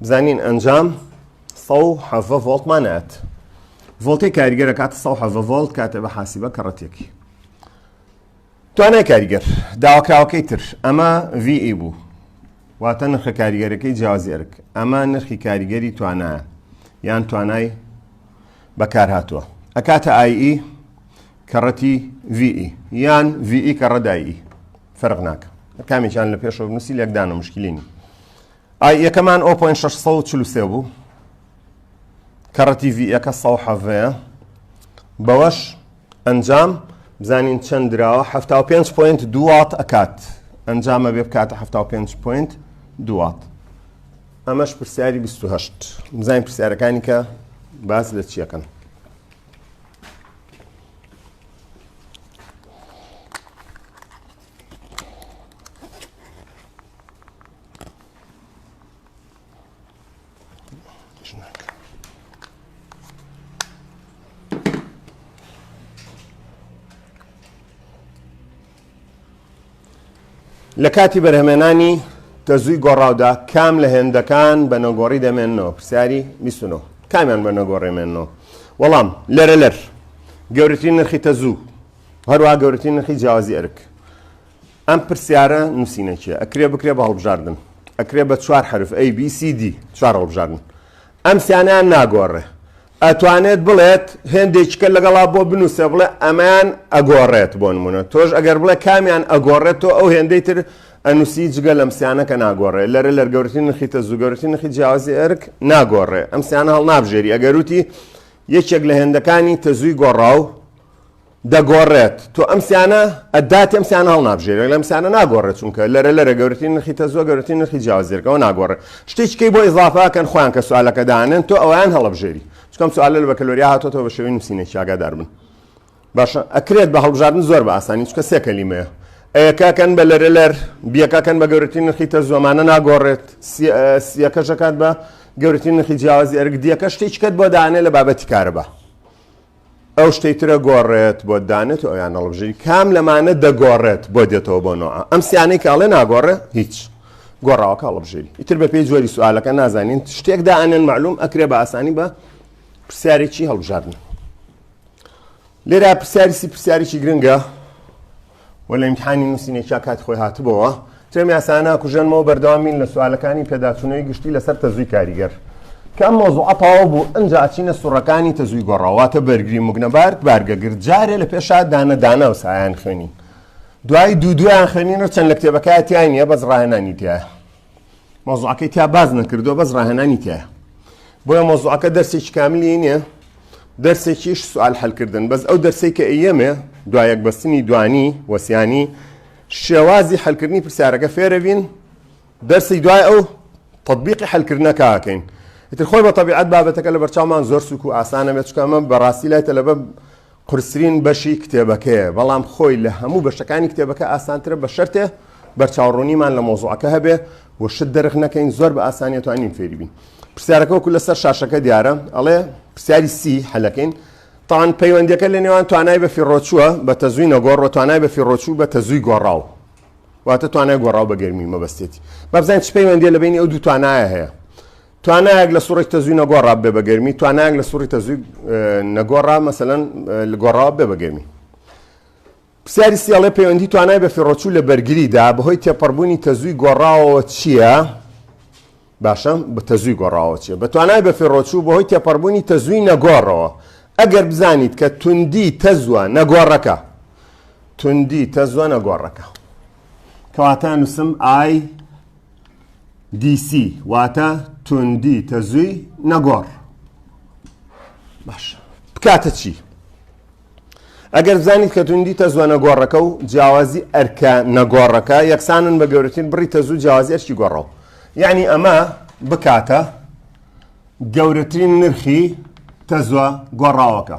بزانین ئەنجام 170 ڤۆڵتمان ئەات ڤۆڵتی کاریگەرە کاتە 170 ڤۆڵت کاتێ بە حاسیبە کە ڕەتێکی توانای کاریگەر داواکراوەکەی تر ئەمە VE بوو واتە نرخە کاریگەرەکەی جیازی ئەرک ئەمە نرخی کاریگەری توانایە یان توانای بەکار هاتووە ئەکاتە ئایئی e، کەڕەتی VE یان VE کەڕەدایی e، فەرق ناکە کامێکیان لە پێشەوە نووسی لەکدانە مشکلینی ئای ەکەمان ئۆپۆ ئێن شەش سەد و چل و سێ بوو کەڕە تیڤی ەکە سەد و حەڤەیە بەوەش ئەنجام بزانین چەند دراوە هەفتا و پێنج پۆینت دوو وات ئەکات ئەنجامە بێ بکاتە هەفتا و پێنج پۆینت دوو وات ئەمەش پرسیاری 28 بزانین پرسیارەکانی کە باس لە چیەکەن لە کاتی بەرهمێنانی تەزووی گۆڕاودا کام لە هێندەکان بە نەگۆڕی دەمێنەوە پرسیاری میسنەوە کامیان بە نەگۆڕێمێنەوە وەڵام لەرە لەر گەورەترین نرخی تەزوو هەروە گەورەترین نرخی جیازی ئەرک ئەم پرسیارە نووسینە چیە؟ ئەکرێ بکرێ بە هەڵبژاردن ئەکرێ بە چوار حرف ئەی بی سی دی چوار هەڵبژاردن ئەم سیانیان ناگۆڕێ ئەتوانێت بڵێت هێندێکیکە لەگەڵا بۆ بنووسێ بڵێ ئەمان ئەگۆڕێت بۆ نمونە تۆش ئەگەر بڵێ کامیان ئەگۆڕێت تۆ ئەو هێندەی تر ئەنووسی جگە لەم سیانەکە ناگۆڕێ لەرە لەرگەورتی نرخی تە زوگەورتی نرخی جیاوازی ئەرک ناگۆڕێ ئەم سیانە هەڵ نابژێری ئەگەروتی یەکێک لە هێندەکانی تەزووی گۆڕاو دەگۆڕێت تۆ ئەم سیانە ئەداتی ئەم سیانە هەڵنابژێرێت لەم سیانە ناگۆڕێت چونکە لەرە لەرە گەورترین نرخی تەزوە گەورترین نرخی جیاوازێرکەوە ناگۆڕێت شتێککەی بۆ ئیزافاکەن خۆیان کە سوالەکە دانێن تۆ ئەویان هەڵبژێری چکەم سوالە لە بەکەلۆریا هاتۆتەوە بە شێوی نووسینە چاگادار بن باشە ئەکرێت بە هەڵبژاردن زۆر بە ئاسانی چکە سێ کەلیمەیە ئەیەکەکەن بە لەرە لەر بیەکەکەن بە گەورترین نرخی تەزوەمانە ناگۆڕێت سیەکەشەکات بە گەورترین نرخی جیاوازی ئەرگ دیەکە شتێککەت بۆ دانێ لە بابەتی کارەبە ئەو شتەی ترە گۆڕێت بۆ دانێت و ئەویان نەڵبژی کام لەمانە دەگۆڕێت بۆ دێتەوە بۆ نوع ئەم سیانەی کە ئەڵێ ناگۆڕێ هیچ گۆڕاوەکە هەڵبژێری ئیتر بە پێی جۆری سوالەکە نازانین شتێک دائەنێن معلوم ئەکرێ بە ئاسانی بە پرسیارێکی هەڵبژاردن لێرا پرسیاریسی پرسیارێکی گرنگە و لە ئیمتیحانی نووسینێکیا کاتی خۆی هاتبۆوە تێمی یاسایە ناکوژێنمەوە بەردەوام بین لە سوالەکانی پێداچوونەوەی گشتی لەسەر تەزووی کاریگەر کام مۆزوعە تەواو بوو ئەنج ئاچینە سوڕەکانی تەزووی گۆڕاواتە بەرگری مگنەبارد بارگەگرت جارێ لە پێشا دانە دانە و سایان خوێنین دوای دوو دویان خوێنینەوە چەند لە کتێبەکەتیای نییە بەس ڕاهێنانی تایە مۆزوعەکەی تیا باز نەکردو بەس ڕاهێنانی تایە بۆیە مۆزوعەکە دەرسێکی کاملی نییە دەرسێکیش سوال حلکردن بەس ئەو دەرسی کە ئەیەمێ دوایەک بەستنی دوانی وەسیانی شێوازی حلکردنی پرسیارەکە فێرەبین دەرسی دوای ئەو تطببیقی حلکردنەکەکەین ئیتر خۆی بە طبیعەت بابەتەکە لە بەرچاومان زۆر سوک و ئاسانە بێت چکەمە بەڕاستی لای تەلەبە قورسترین بەشی کتێبەکەیە بەڵام خۆی لە هەموو بەشەکانی کتێبەکە ئاسانترە بە شەرتێ بەرچاوڕوونیمان لە مەوزوعەکە هەبێ و شت دەرخ نەکەین زۆر بە ئاسانیە توانین فێری بین پرسیارەکە وەکو لەسەر شاشەکە دیارە ئەڵێ پرسیاری سی حەلەکەین تان پەیوەندیەکە لە نێوان توانای بە فیڕۆچووە بە تەزووی نەگۆڕ و توانای بە فیڕۆچوو بە تەزووی گۆڕاو واتە توانای گۆڕاو بە گەرمی مەبەستێتی بابزانین چ پەیوەندی لە بینی ئەو دوو توانایە هەیە توانایەک لە سوڕی تەزووی نەگۆڕا بێ بەگەرمی توانایەک لە سوڕی تەزووی نەگۆڕا مەسەەن گۆڕاوە بێ بەگەرمی پرسیاری سیاڵێ پەیوەندی توانای بە فێڕۆچوو لە بەرگریدا بەهۆی تێپەڕبوونی تەزووی گۆڕاوەوە چییە؟ باشە بە تەزووی گۆڕاوە چیە بە توانای بە فێڕۆچوو بەهۆی تێپەڕبوونی تەزووی نەگۆڕەوە ئەگەر بزانیت کە توندی تەزوە نەگۆڕەکە توندی تەزوە نەگۆڕەکە کەواتە نووسم ئای دیسی واتە توندی تەزووی نەگۆڕ باش بکاتە چی؟ ئەگەر زانیت کە توندی تەزوە نەگۆڕەکە و جیاوازی ئەرکە نەگۆڕەکە یەکسانن بە گەورەترین بڕی تەزوو جیاوازی ئەرکی گۆڕەوە یعنی ئەمە بکاتە گەورەترین نرخی تەزوە گۆڕاوەکە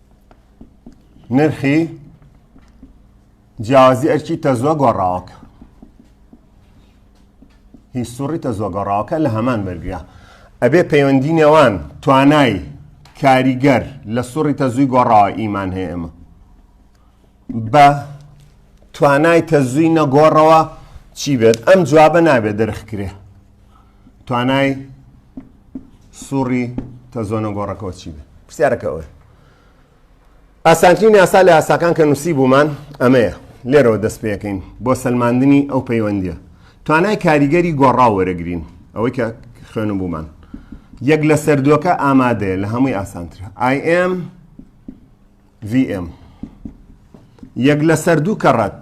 نرخی جیاوازی ئەرکی تەزوە گۆڕاوەکە هی سوڕی تەزوە گۆڕاوەکە لە هەمان بەرگرە ئەبێ پەیوەندی نێوان توانای کاریگەر لە سوڕی تەزووی گۆڕاوە ئیمان هەیە ئێمە بە توانای تەزووی نەگۆڕەوە چی بێت ئەم جوابە نابێت دەرخکرێ توانای سوڕی تەزۆنە گۆڕەکەەوە چی بێ پرسیارەکە ئەوە ئاسانترین یاسا لە یاساکان کە نووسی بوومان ئەمەیە لێرەوە دەست پێەکەین بۆ سلماندنی ئەو پەیوەندیە توانای کاریگەری گۆڕا وەرەگرین ئەوەی کە خوێن بوومان یەک لە سەردووەکە ئامادەیە لە هەمووی ئاسانتر ئاM VM یەک لە سەردوو کەڕەت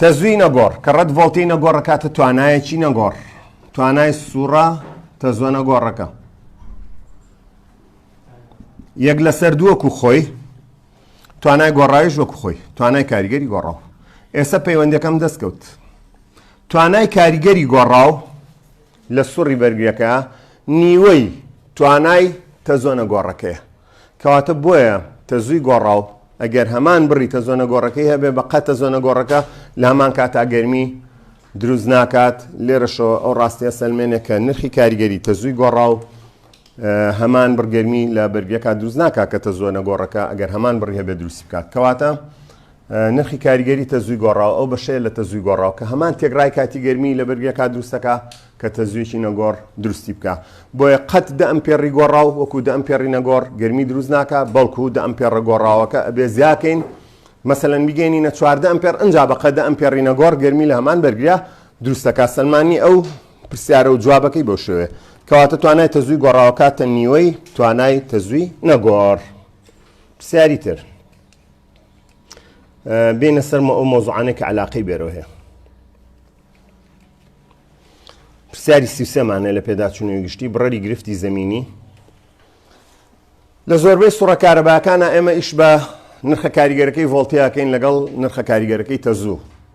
تەزووی نەگۆڕ، کە ڕەد ڤۆڵتەی نەگۆڕ ئەکاتە توانایەکی نەگۆڕ، توانای سووڕە تەزووە نەگۆڕەکە. یەک لەسەر دووە کو خۆی توانای گۆڕاویش وەکو خۆی توانای کاریگەری گۆڕاو ئێستا پەیوەندەکەم دەستکەوت توانای کاریگەری گۆڕاو لە سوڕی بەرگرەکە نیوەی توانای تەزۆنە گۆڕەکەیە کەواتە بۆیە تەزووی گۆڕاو ئەگەر هەمان بڕی تەزۆنە گۆڕەکەی هەبێ بە قە تەزۆنە گۆڕەکە لامان کاتا گەرمی دروست ناکات لێرەشەوە ئەو ڕاستیە سەلمێنێکە نرخی کاریگەری تەزووی گۆڕاو هەمان بڕ گەرمی لە بەرگەکە دروست ناکات کە تەزووە نەگۆڕەکە ئەگەر هەمان بڕی هەبێت دروستی بکات کەواتە نرخی کاریگەری تەزووی گۆڕاو ئەو بەشەیە لە تەزووی گۆڕاو کە هەمان تێکڕای کاتی گەرمی لە بەرگەکە دروستەکە کە تەزوویەکی نەگۆڕ دروستی بکە بۆیە قەت دە ئەم پێڕی گۆڕاو وەکو دە ئەم پێڕی نەگۆڕ گەرمی دروست ناکە بەڵکو دە ئەم پێڕە گۆڕاوەکە ئەبێ زیاکەین مەسەن بگەینینە چواردە ئەم پێر ئەنج بەقەدە ئەم پێڕی نەگۆڕ گەرمی لە هەمان بەرگرە دروستەکە سلمانی ئەو پرسیارە و جوابەکەی بەو شێوەیە. کەواتە توانای تەزووی گۆڕاوە کاتە نیوەی توانای تەزووی نەگۆڕ. پرسیاری تر. بینە سەرمە ئەو مۆزوعانێک کە علاقەی بێرەوە هەیە. پرسیاری سیسێمانە لە پێداچوونەوەی گشتی بڕەری گرفتی زمینی لە زۆربەی سوڕە کارەباکانە ئێمە ئیش بە نرخە کاریگەرەکەی ڤۆڵتیاکەین لەگەڵ نرخە کاریگەرەکەی تەزوو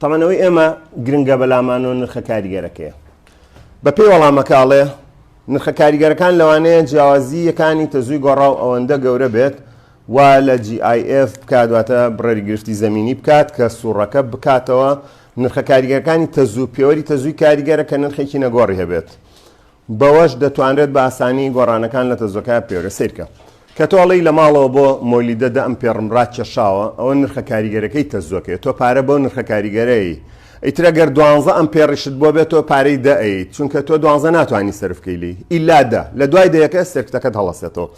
تەبەن ئەوەی ئێمە گرنگە بەلامانەوە نرخە کاریگەرەکەیە. بەپێی وەڵامەکە ئەڵێ، نرخە کاریگەرەکان لەوانەیە جیاوازییەکانی تەزووی گۆڕاو ئەوەندە گەورە بێت وا لە GIF بکات، واتە بڕەری گرفتی زەمینی بکات کە سووڕەکە بکاتەوە، نرخە کاریگەرەکانی تەزوو، پێوەری تەزووی کاریگەرە کە نرخێکی نەگۆڕی هەبێت. بەوەش دەتوانرێت بە ئاسانی گۆڕانەکان لە تەزۆکایا بکەوێت سەیرکە کە تۆ ئەڵێی لە ماڵەوە بۆ مۆلیدە دە ئەم پێڕم ڕاکێشاوە ئەوە نرخە کاریگەرەکەی تەزۆکەێت تۆ پارە بۆ نرخە کاریگەرەی ئیترە گەر دوانزە ئەم پێڕیشت بۆ بێت تۆ پارەی دەئیت چونکە تۆ دوانزە ناتوانانی سرفکەیلی ئیلا دە لە دوای دەیەکە سرکتەکەت هەڵەسێتەوە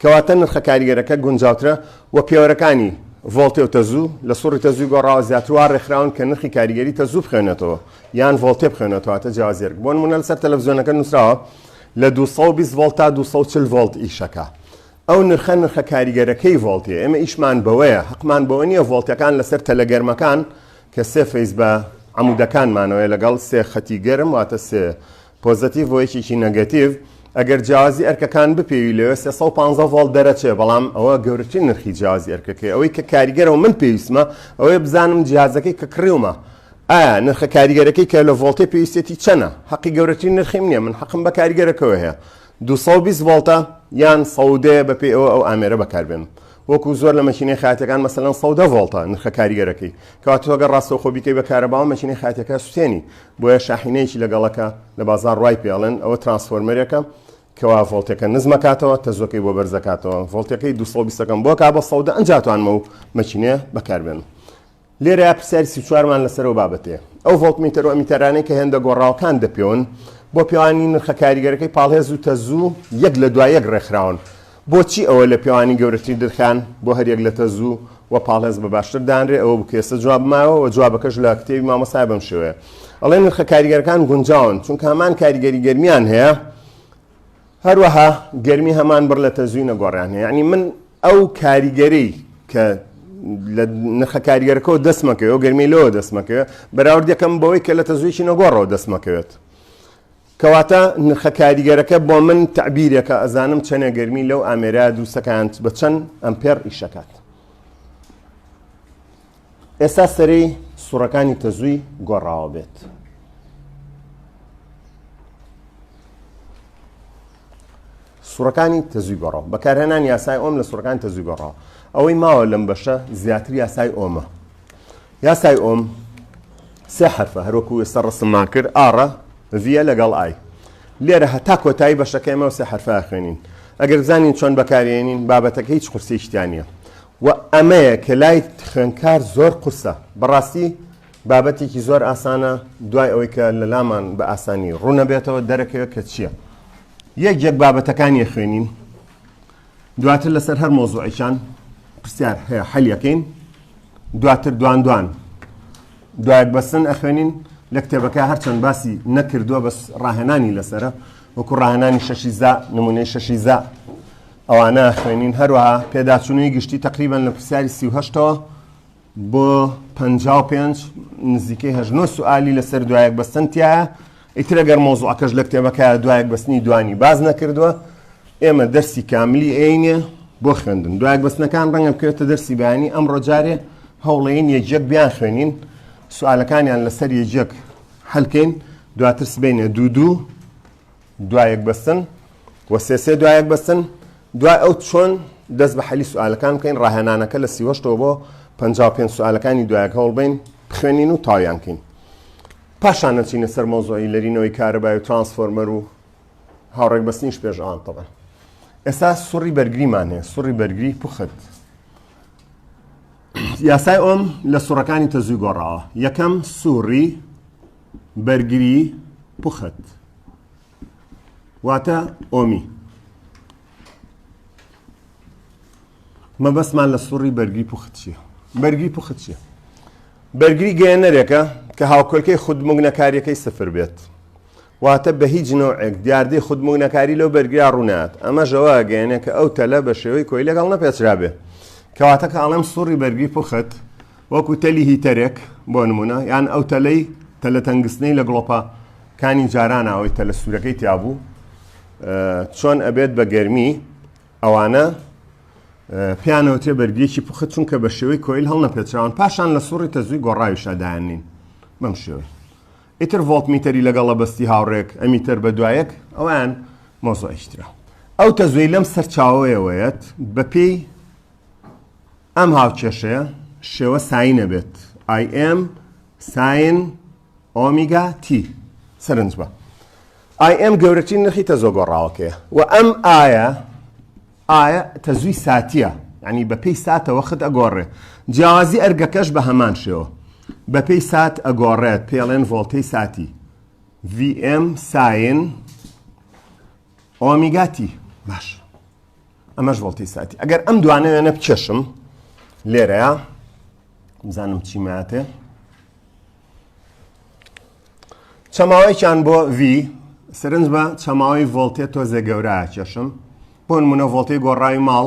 کەواتە نرخە کاریگەرەکە گونجاوترە و پێوەرەکانی ڤۆڵتێ و تەزوو لە سوڕی تەزوی گۆڕاوە زیاتروا ڕێکخراون کە نرخی کاریگەری تەزوو بخوێنێتەوە یان ڤۆڵتێ بخوێنێتەوە واتە جیازێرک بۆ نمونە لەسەر تەلەڤزیۆنەکە نووسراوە لە 220 ڤۆڵت تا 240 ڤۆڵت ئیشەکە ئەو نرخە نرخە کاریگەرەکەی ڤۆڵتێ ئێمە ئیشمان بەوەیە حقمان بەوە نییە ڤۆڵتەکان لەسەر تەلەگەرمەکان کە سێ فەیس بە عمودەکانمانەوەی لەگەڵ سێ خەتی گەرم واتە سێ پۆزەتیڤ بۆ یەکێکی نەگەتیڤ ئەگەر جیاوازی ئەرکەکان بپێوی لەوێ 315 ڤۆڵت دەرەچێ بەڵام ئەوە گەورەترین نرخی جیاوازی ئەرکەکەی ئەوەی کە کاریگەرەوە من پێویستمە ئەوەیە بزانم جیازەکەی کە کڕیومە ئایا نرخە کاریگەرەکەی کە لە ڤۆڵتێ پێویستێتی چەنە حەقی گەورەترین نرخیم نییە من حەقم بە کاریگەرەکەوە هەیە 220 ڤۆڵتە یان سەودێ بەپێ ئەوە ئەو ئامێرە بەکاربێنم وەکو زۆر لە مەکینەی خاتەکان مەسەلەن سەودە ڤۆڵتە نرخە کاریگەرەکەی کەواتۆگە ڕاستەوخۆ بیکەی بە کارەباوە مەکینەی خاتەکە سوتێنی بۆیە شاحینەیەکی لەگەڵەکە لە بازاڕ وای پێ ئەڵێن، ئەوە ترانسفۆرمەرێکە کەوا ڤۆڵتەکە نزم ئەکاتەوە تەزووەکەی بۆ بەرز ئەکاتەوە ڤۆڵتەکەی دوو سەد و بیست ەکەم بۆ ئەکا بە سەد ئەجا توانم ئەو مەکینەیە بەکاربێنم لێرەیا پرسیاری سی و چوار مان لەسەر ئەو بابەتەیە ئەو ڤۆڵتمیتەر و ئەمیتەرانەی کە هێندە گۆڕاوەکان دەپێون بۆ پێوانی نرخە کاریگەرەکەی پاڵهێز و تەزوو یەک لە دوای یەک ڕێکخراون بۆچی ئەوە لە پێوانی گەورەترین درخان بۆ هەر یەک لە تەزو و پاڵێز بە باشتر دانرێ ئەوە بکە ئێستا جواب ماوە و جوابەکەش لە کتێبی مامۆستا بەم شێوەیە ئەڵێ نرخە کاریگەرەکان گونجاون چونکە هەمان کاریگەری گەرمیان هەیە هەروەها گەرمی هەمان بڕ لە تەزوی نەگۆڕیان هەیە یعنی من ئەو کاریگەری کە لە نرخە کاریگەرەکەەوە دەستمەکەەوە گەرمی لەوە دەستمەکەوێت بەراوردەکەم بەوەی کە لە تەزویی نەگۆڕەوە دەستمەکەوێت کەواتە نرخە کاریگەرەکە بۆ من تەعبیرێکە ئەزانم چەنێ گەرمی لەو ئامێرە دووسەکانت بە چەند ئەمپێر ئیشەکات ئێستا سەری سوڕەکانی تەزووی گۆڕاوە بێت سوڕەکانی تەزوی گۆڕاو بەکارهێنان یاسای ئۆم لە سوڕەکان تەزوی گۆڕاو ئەوەی ماوە لەم بەشە زیاتر یاسای ئۆمە یاسای ئۆم سێ حەرفە هەروەکو ئێستا ڕسممان کرد ئاڕە ڤە لەگەڵ ئای لێرە هەتا کۆتایی بەشەکەیمە سێ حرفە خوێنین ئەگەر بزانین چۆن بەکارێنین بابەتەکە هیچ قورسیشتیانە و ئەمەیە کە لای خوێنکار زۆر قورسە بەڕاستی بابەتێکی زۆر ئاسانە دوای ئەوەی کە لە لامان بە ئاسانی ڕوونەبێتەوە دەرەکەوێت کە چییە یەک یەک بابەتەکانی خوێنین دواتر لەسەر هەر مۆزوعێکیان پرسیار هەیە حەلیەکەین دواتر دوان دوان دوایەک بەسن ئەخوێنین لە کتێبەکە هەرچەند باسی نەکردووە بەس ڕاهێنانی لەسرە وەکو ڕاهێنانی شەشی زا نمونەی شەشی زا ئەوانە خوێنین هەروەها پێداچوونی گشتی تقریبان لە پرسیاری سیهشتەوە بۆ پەنجا و پێنج نزیکەی هەژ نۆ سوالی لەسەر دوایەک بەستن تایە ئیترە گەر مۆزوعەکەش لە کتێبەکە دوایەک بەستنی دوانی باز نەکردووە ئێمە دەرسی کاملی عینێ بۆ خوێندن دوایەک بەستنەکان ڕەنگە بکرێتە دەرسی بەیانی ئەم ڕۆجارێ هەوڵێن یەکێک بیان خوێنین سوالەکانیان لەسەر یەکێک هەلکەین دواتر سبینە دوو دوو دوایەک بەستن و سێ سێ دوایەک بەستن دوای ئەو چۆن دەست بە حەلی سوالەکان بکەین ڕاهێنانەکە لە سیوەشتەوە بۆ پ پێ سوالەکانی دوایەک هەوڵبین بخوێنین و تاویانکەین پاشان نەچینە سەر مۆزۆی لەرینەوەی کارەبای و ترانسفۆرمەر و هاوڕێک بەستنیش پێش ئەوان تەبە ئێستا سوڕی بەرگریمان هەیە سوڕی بەرگری پوخت یاسای ئۆم لە سوڕەکانی تەزوی گۆڕاوە یەکەم سوڕی بەرگری پوخت واتە ئۆمی مەبەستمان لە سوڕی بەرگری پوخت چیە بەرگری پوخت چیە بەرگری گەێنەرێکە کە هاوکۆلکەی خودمونەکاریەکەی سفر بێت واتە بە هیچ نەوەک دیاردەی خودمونەکاری لەو بەرگرا ڕوونات ئەمە ژەوە گەێنێکە ئەو تەلە بە شێوەی کۆی لەگەڵ نەپێچرابێ کەواتە کە ئاڵم سوڕی بەرگری پوخت وەکو تەلی هیتەرێک بۆ نمونە یان ئەو تەلەی تەلە تەنگستنەی لە گڵۆپە کانی جاران ئەوەی تەلە سوورەکەی تیابوو چۆن ئەبێت بە گەرمی ئەوانە پیانەوتێ بەرگێکی پخت چونکە بە شێوەی کۆیل هەڵ نەپێچراون پاشان لە سوڕی تەزوی گۆڕاوی شادایان نین بەم شێوە ئیتر ڤۆڵت میتەری لەگەڵە بەستی هاوڕێک ئەمیتەر بە دوایەک ئەوان مۆزۆئشترا ئەو تەزوی لەم سەرچاوەیەوەیەت بەپێی ئەم هاوکێشەیە شێوە ساین ئەبێت، IM ساین ئۆمیگا تی. سەرنج بە، IM گەورەترین نرخی تەزووە گۆڕاوەکەیە و ئەم ئایە ئایە تەزووی ساتییە، یانی بەپێی ساتە وەخت ئەگۆڕێ، جیاوازی ئەرگەکەش بە هەمان شێوە بەپێی سات ئەگۆڕێت، پێڵێن ڤۆڵتەی ساتی، VM ساین، ئۆمیگا تی باش ئەمەش ڤۆڵتی ساتی ئەگەر ئەم دوانە وێنە بکێشم لێرەیە بزانم چی ماتێ چەماوەیان بۆ V سرنج بە چەماوەی ڤۆلتێ تۆزێ گەورە کێشم بۆ نمونە ڤۆلتی گۆڕاوی ماڵ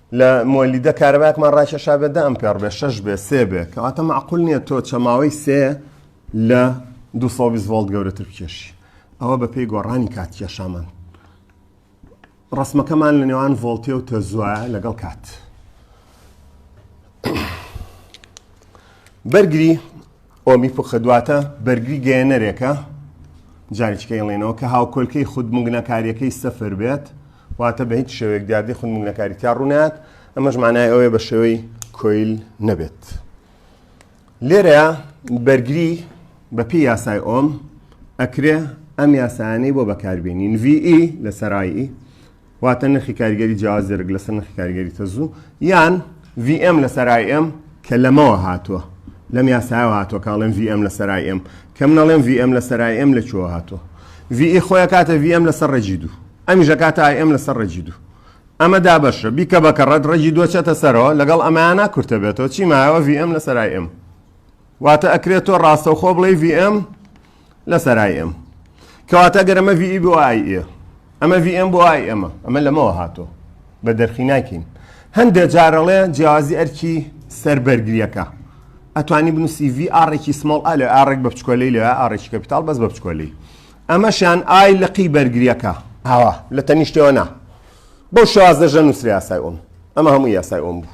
لە مۆلیدە کارەبایەکمان ڕاکێشا بێ دە ئەمپێڕ بێ شەش بێ سێ بێ کەواتە مەعقول نییە تۆ چەماوەی سێ لە 220 ڤۆڵت گەورەتر بکێشی ئەوە بەپێی گۆڕانی کات کێشامان ڕسمەکەمان لە نێوان ڤۆلتێ و تەزوە لەگەڵ کات بەرگری ئۆمیپوخ دواتە بەرگری گەیەنەرێکە، جاریکە ئەیڵێنەوە کە هاوکۆلکەی خودمگنەکاریەکەی سفر بێت، واتە بە هیچ شێوەیەک دیاردەی خودمگنەکاری تیا ڕوونایەت، ئەمەش مانای ئەوەیە بە شێوەی کۆیل نەبێت. لێرەیا بەرگری بە پێی یاسای ئۆم ئەکرێ ئەم یاسایانەی بۆ بەکاربێنین، VE لەسەر IE، واتە نرخی کاریگەری جیاواز درک لەسەر نرخی کاریگەری تەزوو یان VM لەسەر IM کە لەمەوە هاتووە لەم یاسایەوە هاتووە کاڵێن VM لەسەر IM کە منەڵێن VM لەسەر IM لە چۆوە هاتووە VE خۆیە کاتە VM لەسەر ڕێجی دوو ئەمیشە کاتە IM لەسەر ڕێجی دوو ئەمە دابەشە بیکە بە کەڕەت ڕێجی دوچێتە سەرەوە لەگەڵ ئەمانە کورتە بێتەوە چی مایەوە VM لەسەر IM واتە ئەکرێت تۆ ڕاستەوخۆ بڵێ VM لەسەر ئای ئێم کەواتە گەر ئەمە ڤی بۆ ئای ئێ ئەمە ڤی ئێم بۆ ئای ئێمە ئەمە لەمەوە هاتۆ بە دەرخی ناکەین هەندێک جارەڵێ جیازی ئەرکی سەر بەرگریەکە ئەتوانی بنووسی ڤی ئاڕێکی سمۆڵ ئالێ ئاڕێک بە بچکۆلی لە ئاڕێکی کەپیتال بەس بە بچکۆلی ئەمەشیان ئای لەقی بەرگریەکە ئاوا لە تەنیشتەوە نا بەو شازدەژە نووسری یاسای ئۆم ئەمە هەموو یاسای ئۆم بوو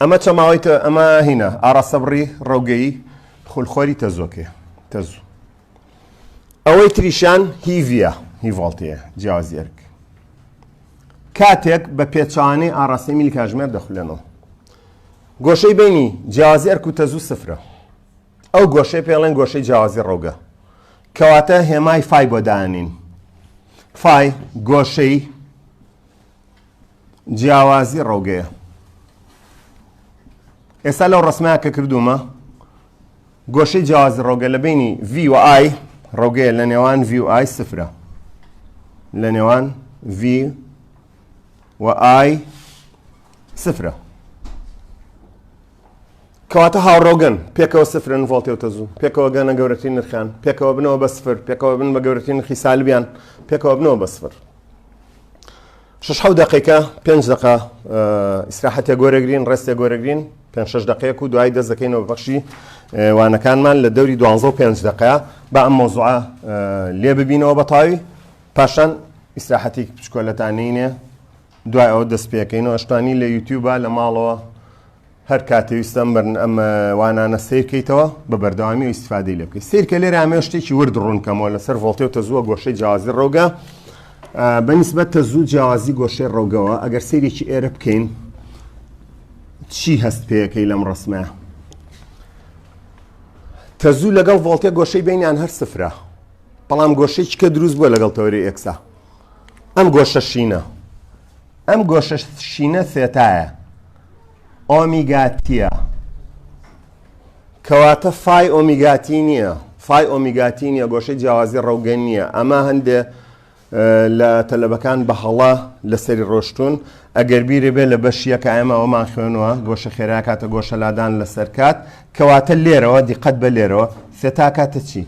ئەمە چەماوەی تە ئەمە هینە ئاراستەبڕی ڕەوگەیی خولخۆری تەزۆکێ تەزوو ئەوەی تریشان هیڤە هیڤڵتەیە جیاوازی ئەرک کاتێک بە پێچوانەی ئاراستەی میلی کاژمێر دەخولێنەوە گۆشەی بینی جیازی ئەرک و تەزوو سفرە ئەو گۆشەی پێڵێن گۆشەی جیازی ڕەوگە کەواتە هێمای فای بۆدانین فای گۆشەی جیاوازی ڕەوگەیە ئێستا لەو ڕسمە کە کردومە گۆشەی جیاوازی ڕۆگە لە بینی V و آی ڕۆگەیە لە نێوان V و آی سفرە لە نێوان V و آی سفرە کەواتە هاوڕۆگەن پێکەوە سفرن ڤۆڵتێوتە زوو پێکەوە گەنە گەورەترین نرخان پێکەوە بنەوە بە سفر پێکەوە بن بە گەورەترین خیسالبیان پێکەوە بنەوە بە سفر شەش حەوت دەقێکە پێنج دەقە ئیسراحەتێک گۆرەگرین ڕێستێک گۆرەگرین پێنج شەش دەقێک و دوای دەست دەکەینەوە بەخشی وانەکانمان لە دەوری دوانزە و پێنج دەقە با ئەم مۆزوعە لێ ببینەوە بە تاوی پاشان ئیسراحەتی پشکۆلەتانینێ دوای ئەو دەست پێەکەینەوە شتانی لە یوتیوبە لە ماڵەوە هەر کاتێ ویستم بەرن ئەم وانانە سیر کەیتەوە بە بەردەوامی و ئیسفادەی لێ بکەیت سیرکە لێرە ئامێ شتێکی ورد ڕوونکەمەوە لەسەر ڤۆڵتێ و تەزووە گۆشەی جیازی ڕۆگە بەنیسبەت تەزوو جیازی گۆشەی ڕۆگەوە ئەگەر سیرێکی ئێرە بکەین چی هەست پێەکەی لەم ڕسمە تەزوو لەگەڵ ڤۆڵتێ گۆشەی بینیان هەر سفرە بەڵام گۆشەی چکە دروست بووە لەگەڵ تەوەری ئێکسا ئەم گۆشە شینە ئەم گۆشە شینە سێتایە ئۆمیگاتیە کەواتە فای ئۆمیگاتی نییە فای ئۆمیگاتی نیە گۆشەی جیاوازی ڕەوگەن نییە ئەمە هەندێ لە تەلەبەکان بە هەڵە لەسەری ڕۆشتون ئەگەر بیرێ بێ لە بەشیە کە ئەمە ئەومان خوێنەوە گۆشە خێرا کاتە گۆشە لادان لەسەر کات کەواتە لێرەوە دیقەت بە لێرەوە سێتا کاتە چی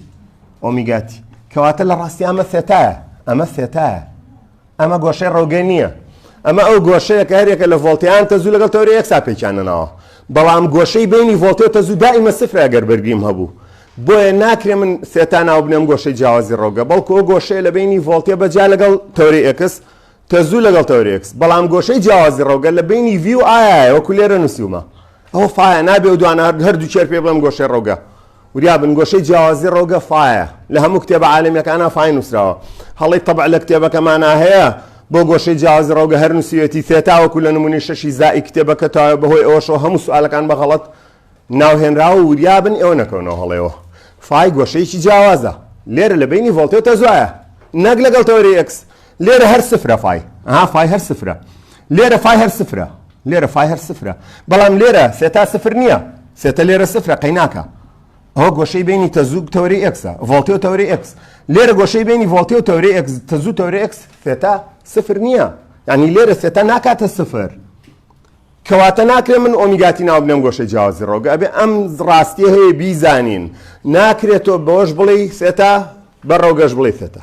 ئۆمیگاتی کەواتە لە ڕاستی ئەمە سێتایە ئەمە سێتایە ئەمە گۆشەی ڕەوگەی نییە ئەمە ئەو گۆشەیە کە هەرێکە لە ڤۆڵتیان تەزوو لەگەڵ تەورە یەک سا پێکیانەناوە بەڵام گۆشەی بینی ڤۆڵتێ و تەزوو دائیمە سفرە گەر بەرگریم هەبوو بۆیە ناکرێ من سێتا ناو بنێم گۆشەی جیاوازی ڕۆگە بەڵکو ئەو گۆشەیە لە بینی ڤۆڵتێ بەجیا لەگەڵ تەوری ئەکس تەزوو لەگەڵ تەورێکس بەڵام گۆشەی جیاوازی ڕۆگە لە بینی ڤی و ئایا وەکو لێرە نووسیومە ئەوە فایە نابێ و دوانە هەردوو چێر پێ بڵێم گۆشەی ڕەوگە وریا بن گۆشەی جیاوازی ڕەوگە فایە لە هەموو کتێبە عالمیەکانە فای نووسراوە هەڵی تەبع لە کتێبەکەمانە هەیە بۆ گۆشەی جیاوازی ڕەوگە هەر نووسیوێتی فێتاوەکو لە نمونی شەشی زائی کتێبەکە تا بەهۆی ئەوەشەوە هەموو سوالەکان بە غەڵەت ناوهێنراوە وریا بن ئێوە نەکەونەوە هەڵێەوە فای گۆشەیەکی جیاوازە لێرە لە بینی ڤۆلتێ تەزایە نەک لەگەڵ تەوەری ئەکس لێرە هەر سفرە فای ها فای هەر سفرە لێرە فای هەر سفرە لێرە فای هەر سفرە بەڵام لێرە سێتا سفر نییە سێتە لێرە سفرە قەیناکە ئەوە گۆشەی بینی تەزوو تەوری ئەکسە ڤڵتی و تەوری ئەکس لێرە گۆشەی بینی ڤڵتی و تەوری ئەکس تەزوو تەوری ئەکس سێتا سفر نییە ینی لێرە سێتا ناکاتە سفر کەواتە ناکرێت من ئۆمیگاتی ناو بنێم گۆشەی جیاوازی ڕۆگە ئەبێ ئەم ڕاستیە هەیە بیزانین ناکرێت تۆ بەوەش بڵێ سێتا بە ڕۆگەش بڵێ سێتا